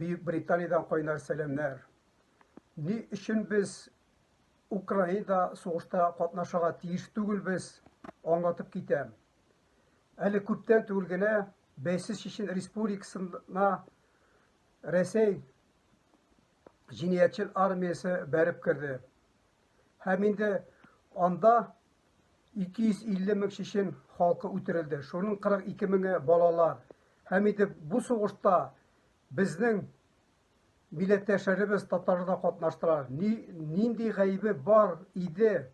Бөекбританиядән кайнар сәламнәр. Ни өчен без Украинада сугышта катнашырга тиеш түгелбез, аңлатып китәм. Әле күптән түгел генә Бәйсез Чечен Республикасына Рәсәй җинаятьчел армиясе бәреп керде. Һәм инде анда 250 мең чечен халкы үтерелде. Шуның 42 меңе балалар. Һәм инде бу сугышта безнең милләттәшләребез татарлар да катнаштылар. Ни, нинди гаебе бар иде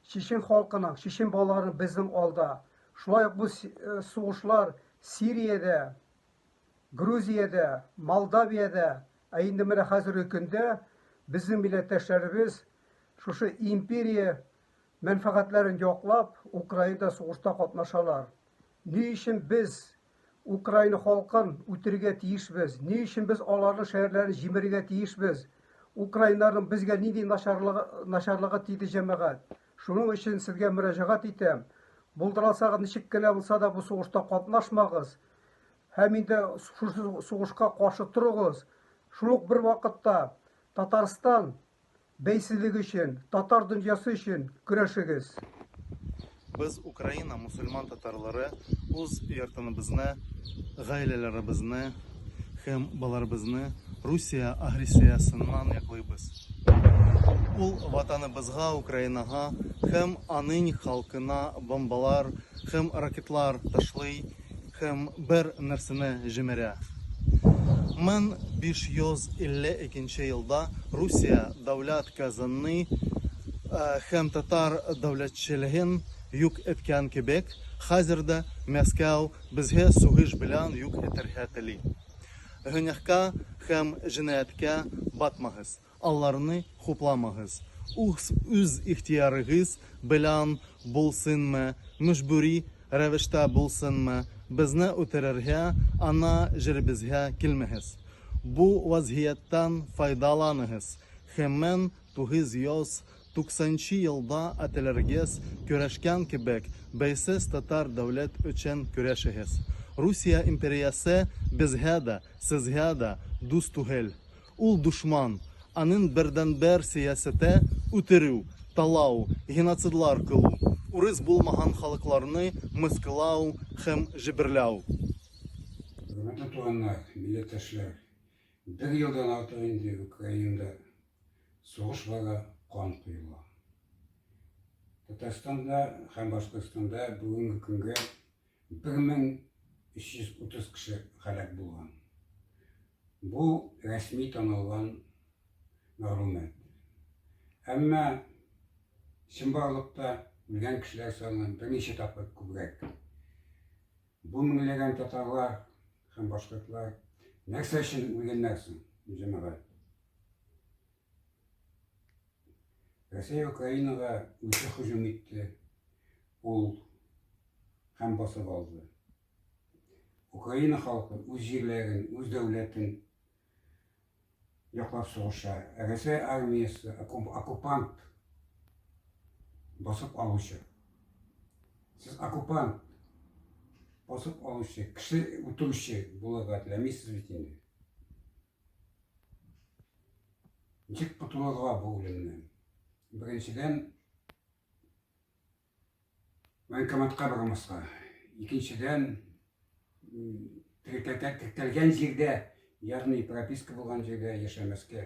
чечен халкының, чечен балаларының безнең алда. Шулай ук бу э, сугышлар Сириядә, Грузиядә, Молдавиядә, ә инде менә хәзерге көндә безнең милләттәшләребез шушы империя мәнфәгатьләрен яклап, Украинада сугышта катнашалар. Ни өчен без Украина халкын үтерергә тиешбез? Ни өчен без аларның шәһәрләрен җимерергә тиешбез? Украиннарның безгә нинди начарлыгы, начарлыгы тиде җәмәгать? Шуның өчен сезгә мөрәҗәгать итәм. Булдыралсагыз ничек кенә булса да бу сугышта катнашмагыз. Һәм инде шушы сугышка каршы торыгыз. Шул ук бер вакытта Татарстан Бәйсезлек өчен, татар дөньясы өчен көрәшегез! Без Украина мусульман татарлары уз йортыныбызны, гаиләләребезне һэм баларыбызны Русия агрессиясыннан яклыйбыз. Ул ватаныбызга Украинага һэм анынь халкына бомбалар һэм ракетлар ташлый Һәм бер нәрсәне җимерә. 1552 нче елда Русия дәүләт казнны һәм татар дәүләтчелеген юк иткән кебек, хәзер дә Мәскәү безгә сугыш белән юк итәргә тели. Гөнаһка һәм җинаятькә батмагыз. Аларны хупламагыз. Ус үз ихтиярыгыз белән булсынмы, мөҗбүри рәвештә булсынмы, безне үтерергә, ана җиребезгә килмәгез. Бу вазгыятьтән файдаланыгыз. Хемэн 990 нчы елда әтиләрегез көрәшкән кебек, бәйсез татар дәүләт өчен көрәшегез. Русия империясе безгә дә, сезгә дә дус түгел. Ул дошман, анын бердәнбер сәясәте, үтерү, талау, геноцидлар кылу, урыс булмаган халыкларны мыскылау һәм җеберләү. Хөрмәтле туганнар, милләттәшләр! Бер елдан артык инде Украинада сугыш бара, кан коела. Татарстанда һәм Башкортстанда бүгенге көнгә 1330 кеше һәлак булган. Бу рәсми танылган мәгълүмат. Әмма чынбарлыкта үлгән кешеләр саны берничә тапкыр күбрәк. Бу меңләгән татарлар һәм башкортлар нәрсә өчен үлгәннәр соң, җәмәгать? Рәсәй Украинага үзе һөҗүм итте, ул һәм басып алды. Украина халкы үз җирләрен, үз дәүләтен яклап сугыша. Ә Рәсәй армиясе оккупант басып алучы. Сез оккупант басып алучы, кеше үтерүче булырга теләмисез бит инде. Ничек котылырга бу үлемнән? Беренчедән, военкоматка бармаска. Икенчедән, теркәлгән җирдә, ягъни прописка булган җирдә яшәмәскә.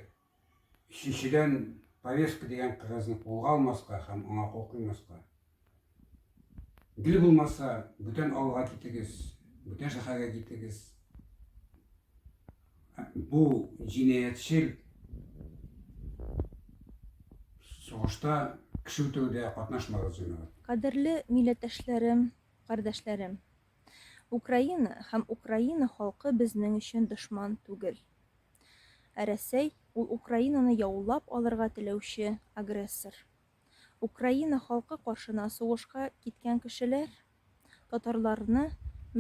Өченчедән, повестка дигән кагазьне кулга алмаска һәм аңа кул куймаска. Гел булмаса, бүтән авылга китегез, бүтән шәһәргә китегез. Бу җинаятьчел сугышта кеше үтерүдә катнашмагыз, җәмәгать. Кадерле милләттәшләрем, кардәшләрем! Украина һәм Украина халкы безнең өчен дошман түгел. Ә Рәсәй, ул Украинаны яулап алырга теләүче агрессор. Украина халкы каршына сугышка киткән кешеләр, татарларны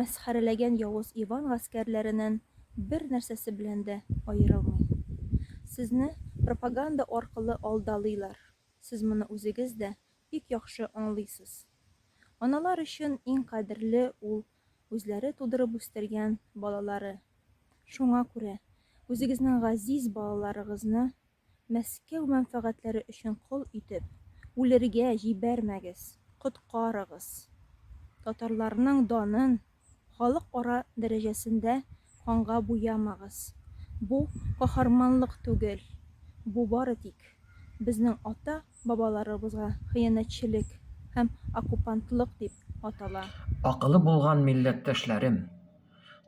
мәсхәрәләгән явыз Иван гаскәрләренен бер нәрсәсе белән дә аерылмый. Сезне пропаганда аркылы алдалыйлар, сез моны үзегез дә бик яхшы аңлыйсыз. Аналар өчен иң кадерле ул үзләре тудырып үстергән балалары. Шуңа күрә үзегезнең газиз балаларыгызны Мәскәү мәнфәгатьләре өчен кол итеп, үлергә җибәрмәгез, коткарыгыз! Татарларның данын халыкара дәрәҗәсендә канга буямагыз! Бу каһарманлык түгел, бу бары тик безнең ата Бабаларыбызга хыянәтчелек һәм оккупантлык дип атала. Акылы булган милләттәшләрем,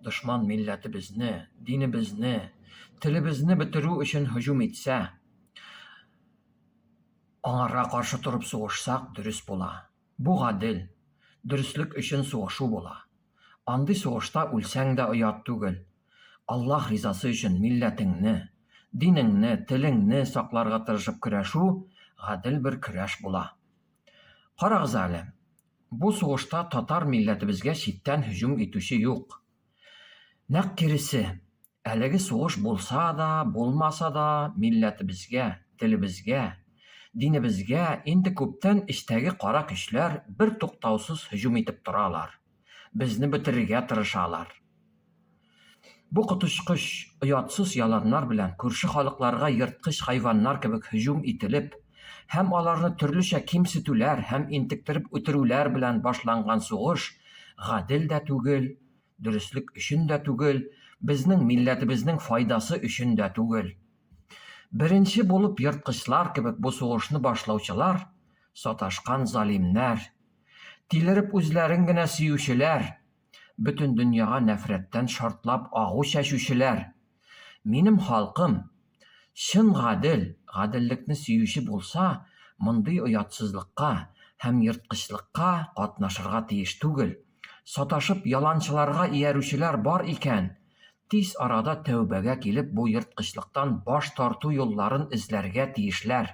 дошман милләтебезне, динебезне, телебезне бетерү өчен һөҗүм итсә, аңарга каршы торып сугышсак дөрес була. Бу гадел, дөреслек өчен сугышу була. Андый сугышта үлсәң дә оят түгел. Аллаһ ризасы өчен милләтеңне, динеңне, телеңне сакларга тырышып көрәшү гадел бер көрәш була. Карагыз әле, бу сугышта татар милләтебезгә читтән һөҗүм итүче юк. Нәкъ киресе, Әлеге сугыш булса да, булмаса да, милләтебезгә, телебезгә, динебезгә инде күптән эчтәге кара көчләр бертуктаусыз һөҗүм итеп торалар, безне бетерергә тырышалар. Бу коточкыч, оятсыз яланнар белән күрше халыкларга ерткыч хайваннар кебек һөҗүм ителеп һәм аларны төрлечә кимсетүләр һәм интектереп үтерүләр белән башланган сугыш гадел дә түгел, дөреслек өчен дә түгел, безнең милләтебезнең файдасы өчен дә түгел. Беренче булып ерткычлар кебек бу сугышны башлаучылар, саташкан залимнәр, тилереп үзләрен генә сөючеләр, бөтен дөньяга нәфрәттән шартлап агу чәчүчеләр, Минем халкым чын гадел, гаделлекне сөюче булса, мондый оятсызлыкка һәм ерткычлыкка катнашырга тиеш түгел. Саташып яланчыларга иярүчеләр бар икән, тиз арада тәүбәгә килеп бу ерткычлыктан баш тарту юлларын эзләргә тиешләр.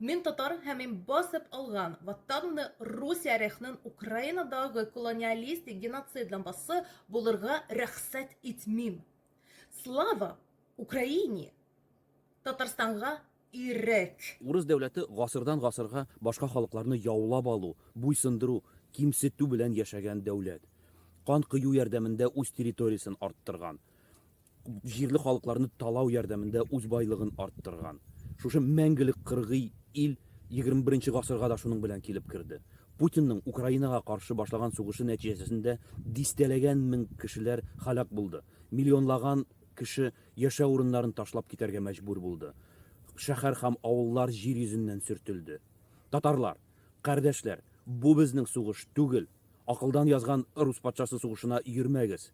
Мин татар һәм мин басып алган ватанны Русия рехнын Украинадагы колониалистик геноцид лампасы булырга рөхсәт итмим. Слава Украине! Татарстанга ирек! Урыс дәүләте гасырдан гасырга башка халыкларны яулап алу, буйсындыру, кимсетү белән яшәгән дәүләт. Кан кою ярдәмендә үз территориясен арттырган. җирле халыкларны талау ярдәмендә үз байлыгын арттырган. Шушы мәңгелек кыргый ил егерме-беренче гасырга да шуның белән килеп керде. Путинның Украинага каршы башлаган сугышы нәтиҗәсендә дистәләгән мең кешеләр һәлак булды, миллионлаган кеше яшәү урыннарын ташлап китәргә мәҗбүр булды, шәһәр һәм авыллар җир йөзеннән сөртелде. Татарлар, кардәшләр, бу безнең сугыш түгел, акылдан язган рус патшасы сугышына йөрмәгез.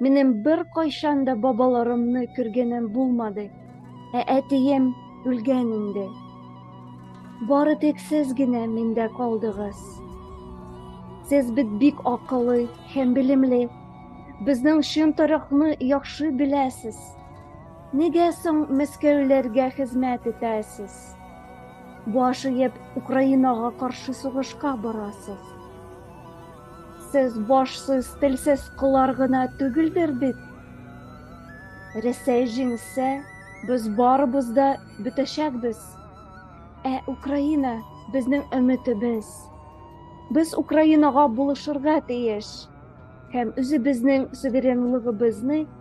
Минем беркайчан да бабаларымны күргәнем булмады. Ә әтием үлгән инде. Бары тик сез генә миндә калдыгыз. Сез бит бик акыллы һәм белемле. Безнең чын тарихны яхшы беләсез. Нигә соң мәскәүләргә хезмәт итәсез? Баш иеп, Украинага каршы сугышка барасыз. Сез башсыз, телсез кылар гына түгелдер бит. Рәсәй җиңсә, без барыбыз да бетәчәкбез. Ә Украина безнең өметебез. Без Украинага булышырга тиеш һәм үзебезнең суверенлыгыбызны